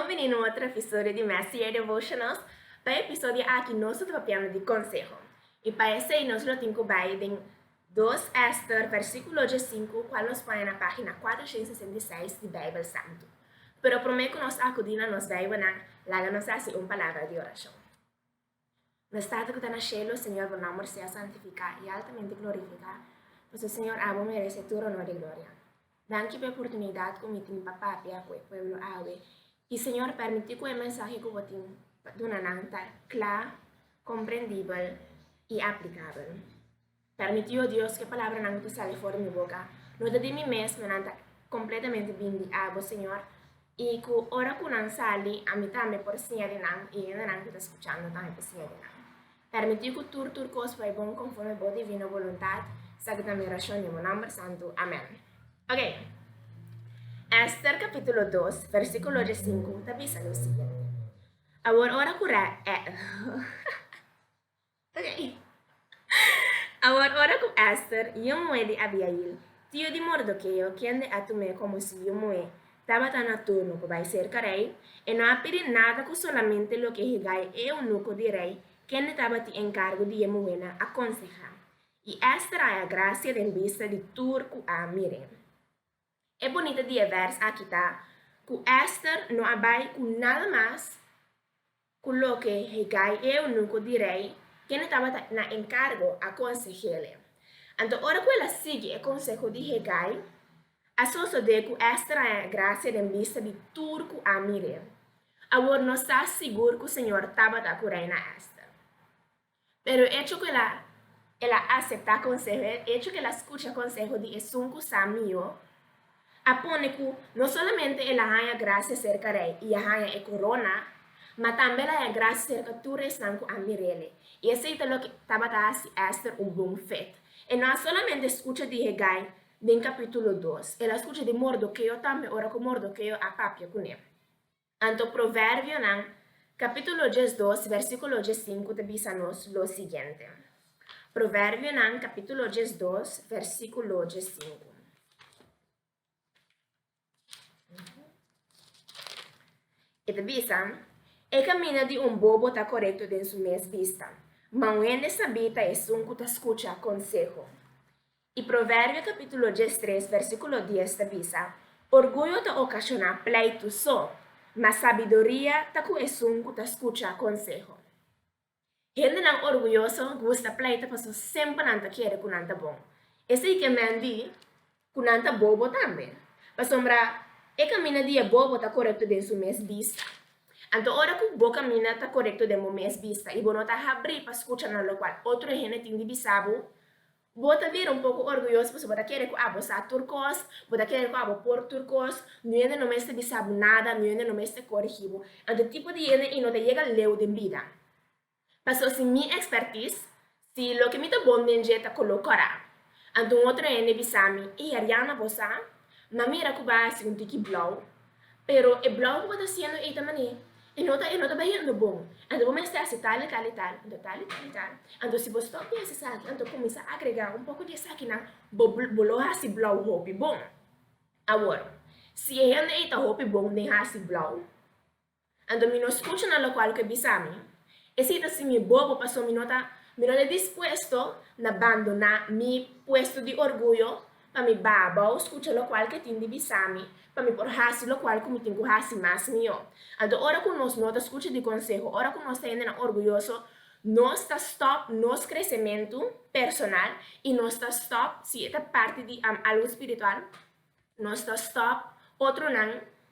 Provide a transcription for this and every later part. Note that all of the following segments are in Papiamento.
Bienveni na otro episodio di Mester Year Devotionals. Pa e episodio aki nos lo ta papiando di conseho. I pa esei nos lo tin cu bay den Dos Ester versiculo djesinku cual nos paña na pagina cuatro ciento sesenta y seis di Bijbel Santu. Pero prome cu nos a acudi na nos Bijbelnan, laga nos haci un palabra di oracion. Nos Tata ku ta na shelu, Señor, Bo nòmber sea santifiká i altamente glorifiká, pasobra Señor, abo merese tur onor i gloria. Danki pa e oportunidat ku mi tin pa papia ku e pueblo awe i, Señor, permití ku e mensahe ku Bo tin pa duna nan ta kla, komprendibel i aplikabel. Permití, o Dios, ke palabranan ku ta sali for di mi boka no ta di mi mes, ma nan ta kompletamente bin di Abo, Señor, i ku ora ku nan sali, ami tambe por siña di nan i hendenan ku ta skuchando tambe por siña di nan. Permití ku tur tur kos bai bon konforme Bo divino boluntat, sa ki ta mi orashon den Bo nòmber santu. Amèn. Oke, Ester kapítulo dos, versíkulo diesinku ta bisa lo siguiente, Awor ora ku rei. Awor, ora ku Èster, yu muhé di Abiail, tiu di Mordokeo, kende a tum'é komo si yu muhé, tabata na turno ku bai serka rei, e no a pidi nada ku solamente loke Hegai e eunuko di rei, kende tabatin enkargu di e muhénan, a konsehá. I Èster a haña grasia den bista di tur ku a mir'é. E bonita di e vers aki ta ku Ester no a bai ku nada mas ku loke Hegai, e eunuko di rei, kende tabata na enkargo, a konseh'e. Anto ora ku el a sigui e konseho di Hegai, a sosodé ku Ester a haña grasia den bista di tur ku a mir'é. Awor nos ta sigur ku señor tabata ku reina Ester. Pero echo cu el a el a acepta conseho, e echo cu el a scucha conseho di esun cu sa mihó, a pone cu no solamente el a haña gracia cerca rey y a haña e corona, ma tambe el a haña gracia cerca tur esnan cu a mir'ele. Y esey ta loke tabata haci Ester un bon fet. E no a solamente scucha di Hegai den capítulo dos, el a scucha di Mordoqueo tambe ora cu Mordoqueo a papia cu ne. Anto Proverbionan, capítulo diesdos, versículo diescinku ta bisa nos lo siguiente. Proverbionan, capítulo diesdos, versículo diescinku. E ta bisa, E caminda di un bobo ta correcto den su mes bista, ma un hende sabí ta esun cu ta scucha conseho. I Proverbio capítulo diestres versículo dies ta bisa, Orguyo ta ocasioná pleitu so, mas sabiduria ta cu esun cu ta scucha conseho. Hendenan orguyoso gusta pleita pasobra semper nan ta kere cu nan ta bon. Esei ke men di cu nan ta bobo tambe, pasobra e caminda di e bobo ta corecto den su mes bista. Anto ora cu bo caminda ta corecto den bo mes bista i bo no ta habrí pa scucha na locual otro hende tin di bisa bo, Bo ta bira un poco orguyoso pasobra bo ta kere cu abo sa tur cos, bo ta kere cu abo por tur cos, nu yende no mester bisa bo nada, nu yende no mester corigi bo. Anto tipo di yende y no ta yega leu den bida. Paso si mi expertise, si loke mi ta bon den dje ta colo cora, anto un otro hende bisa mi, ey Ariana bo sa? Ma mira cu ba haci un tiki blauw. Pero e blòk ku bo ta siendo ei ta mané i no ta i no ta bahiendo bon. Anto bo mester hasi tal i tal i tal, anto tal i tal i tal. Anto si bo stòp di hasi esaki, anto kuminsá agregá un poko di esakinan, bo bo lo hasi blòk hopi bon. Awor, si e hende ei ta hopi bon den hasi blòk. Anto mi no scucha na locual cu e bisa mi, Esey ta sin mi bobo paso mi no ta, mi no ta dispuesto na bandona mi puesto di orguyo pa mi babao scucha locual cu e tin di bisa mi pa mi por haci locual cu mi tin cu haci mas mihó. Anto ora cu nos no ta scucha di conseho, ora cu nos ta hende nan orguyoso, nos ta stop nos crecemento personal y nos ta stop si e ta parti di algo spiritual. Nos ta stòp otronan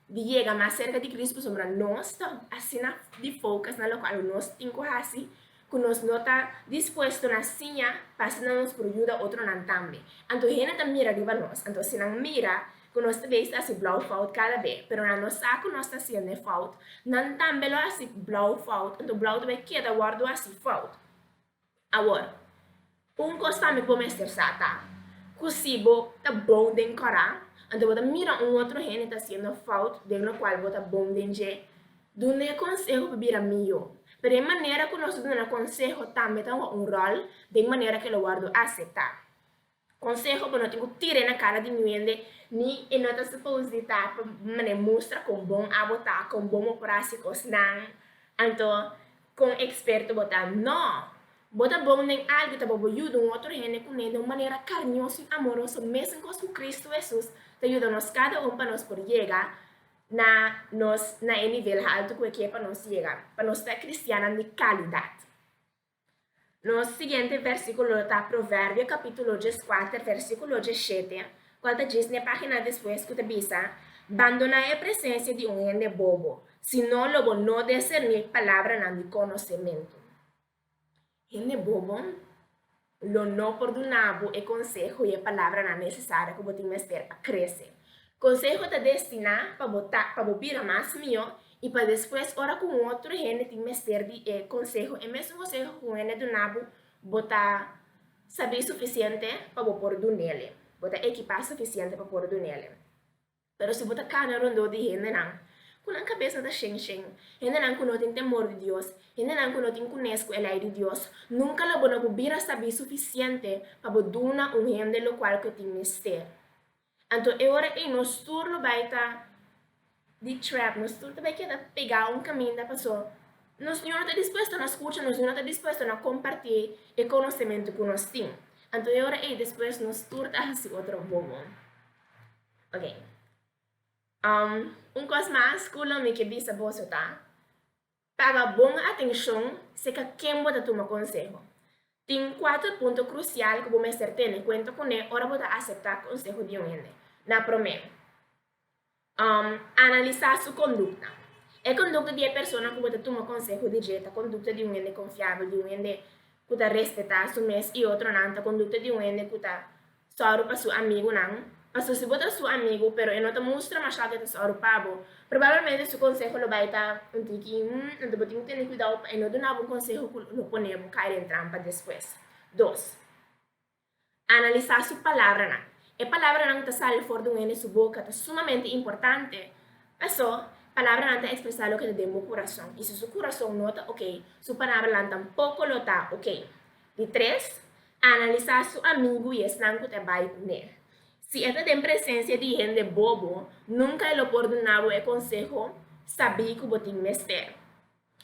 di yega mas serka di Kris pasobra nos ta asina di foukas na lokual nos tin ku hasi ku nos no ta dispuesto na siña pa asina nos por yuda otronan tambe. Anto hende ta mira riba nos, anto si nan mira ku nos ta bisa hasi blou fout kada be, pero nan no sa ku nos ta hasiende fout, nan tambe lo hasi blou fout, anto blou ta bai keda wòrdu hasi fout. Awor, un kos tambe ku bo mester sa ta ku si bo ta bon den kòrá, anto bo ta mira un otro hende ta hasiendo fout den lokual bo ta bon den dje, dun'é konseho pa bira mihó. Pero e manera ku nos ta duna konseho tambe ta hoga un ròl den manera ke lo wòrdu aseptá. Konseho, Bo no tin ku tira e na kara di nuende, ni e no ta supos di ta pa manera mustra kon bon abo ta, kon bo mopora si kosnan, anto kon eksperto bo ta. No! Bo ta bon den algu ta bo bo yuda un otro hende kuné den un manera karñoso i amoroso, mesun kos ku Kristu Hesus ta yuda nos kada un pa nos por yega na nos na e nivel haltu ku e kier pa nos yega, pa nos ta e kristiannan di kalidat. Nos siguiente versikulo ta Proverbio kapitulo djes kuater versikulo djes shete, kual ta djis n'e página despues ku ta bisa, Bandoná e presensia di un hende bobo, si no lo bo no deserní palabranan di konosementu. Hende bobo lo no por duna bo e konseho i e palabranan nesesario ku bo tin mester pa krese. Konseho ta destiná pa bo ta pa bo bira mas mihó i pa despues ora ku un otro hende tin mester di e konseho, e mesun konseho ku un hende a duna bo, bo ta sabí sufisiente pa bo por dun'ele, bo ta ekipá sufisiente pa por dun'ele. Pero si bo ta kana rondó di hendenan ku nan kabesnan ta shen shen, hendenan ku no tin temor di Dios, hendenan ku no tin kunes ku e Lei di Dios, nunka lo bo no por bira sabí sufisiente pa bo duna un hende lokual ku e tin mester. Anto e ora ei nos tur lo bai ta di trap, nos tur ta bai keda pegá un kaminda pasó nos niño no ta dispuesto na skucha, nos niño no ta dispuesto na kompartié e konosementu ku nos tin. Anto e ora ei despues nos tur ta hasi otro bobo. Oke, um un kos mas ku lo mi ke bisa boso ta. Paga bon atencion seca ken bo ta tuma conseho. Tin cuater punto crucial cu bo mester tene cuenta cu ne ora bo ta acepta conseho di un hende. Na promeo, analisa su conducta. E conducta di e persona cu bo ta tuma conseho di dje ta conducta di un hende confiabel, di un hende cu ta respeta su mes y otronan, ta conducta di un hende cu ta sòru pa su amigunan, pasobra si bo ta su amigu pero e no ta mustra mashá ku e ta sòru pa bo, probablemente su konseho lo bai ta un tiki hmm. Anto bo tin ku tene kuidou pa e no duna bo konseho ku lo pone bo kai den trampa despues. Dos, analisá su palabranan. E palabranan ku ta sali for di un hende su boka ta sumamente importante, pasó palabranan ta ekspresá loke ta den bo kurason, i si su kurason no ta okey, su palabranan tampoko lo ta okey. Di tres, analisá su amigu i esnan ku ta bai ku ne. Si e ta den presensia di hende bobo, nunka e lo por duna bo e konseho sabí ku bo tin mester.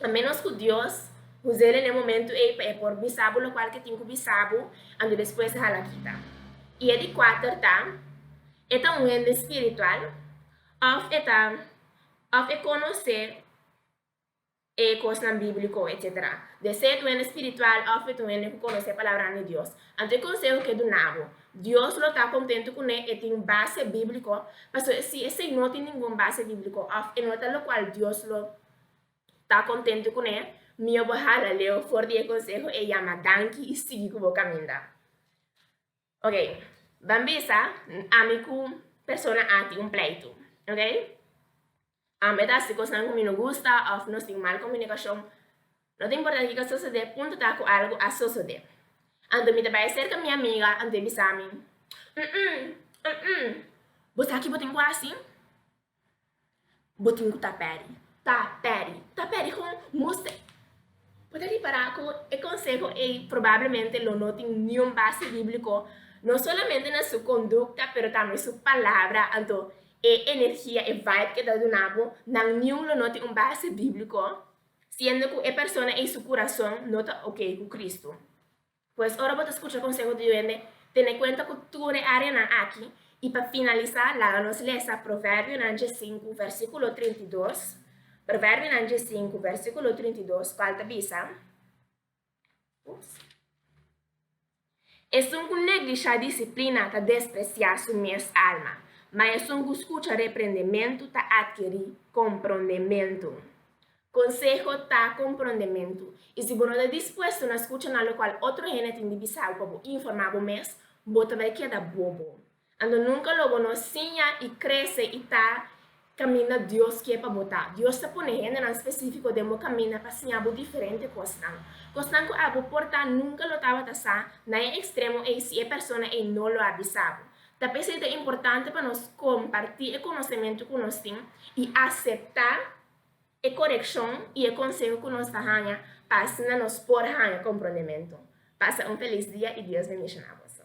A ménos ku Dios usa el n'e momentu ei pa e por bisa bo lokual ke tin ku bisa bo, anto despues hala kita. I e di kuater ta, E ta un hende spiritual òf e ta òf e konosé? e kosnan bíbliko, etc. Debe ser tu hende spiritual òf e tu hende ku konosé e palabranan di Dios. Anto e konseho ke duna bo, Dios lo ta kontentu kuné e tin base bíbliko, pasobra si esei no tin ningun base bíbliko òf e no ta lokual Dios lo ta kontentu kuné, mihó bo hala leu for di e konseho, e yama danki i sigui ku bo kaminda. Ok, ban bisa ami ku persona a tin un pleitu, ok? Um, e ta hasi kosnan ku mi no gusta of nos tin mal komunikashon. No ta importa kiko a sosodé, punto ta ku algu a sosodé. Anto mi ta bai serka mi amiga, anto e bisa mi, Um-um, um-um, bo ta ki bo tin ku hasi? Bo tin ku ta peri. Ta peri. Ta peri kon muster. Bo ta ripará ku e konseho ei probablemente lo no tin niun base bíbliko, no solamente na su kondukta, pero tambe su palabra. Anto e energia, e vibe ku e ta duna bo, nan niun lo no tin un base bíbliko, siendo ku e persona ei su kurason no ta oke ku Kristu. Pues ora bo ta scucha conseho di duende, tene cuenta cu tur e areanan aki, y pa finalisa laga nos lesa Proverbionan dje sinku, versiculo trinta i dos, Proverbionan dje sinku, versiculo trinta i dos, cual ta bisa, Ups. Esun cu neglisha disciplina ta desprecia su mes alma, ma esun cu scucha reprendementu ta adkeri comprondementu. Conseho ta comprondementu. Y si bo no ta dispuesto na scucha na lo cual otro hende tin di bisa bo pa bo informa bo mes, bo ta bay keda bobo. Anto nunca lo bo no siña y crece y ta caminda Dios kier pa bo ta. Dios ta pone hendenan specifico den bo caminda pa siña bo diferente cosnan. Cosnan cu abo por ta nunca lo tabata sa na e extremo ey si e persona ey no lo a bisa bo. Ta p'esey ta importante pa nos comparti e conocemento cu nos tin y acepta. e korekshon i e konseho ku nos ta haña pa asina nos por haña komprondementu. Pasa un felis dia i Dios bendishoná boso.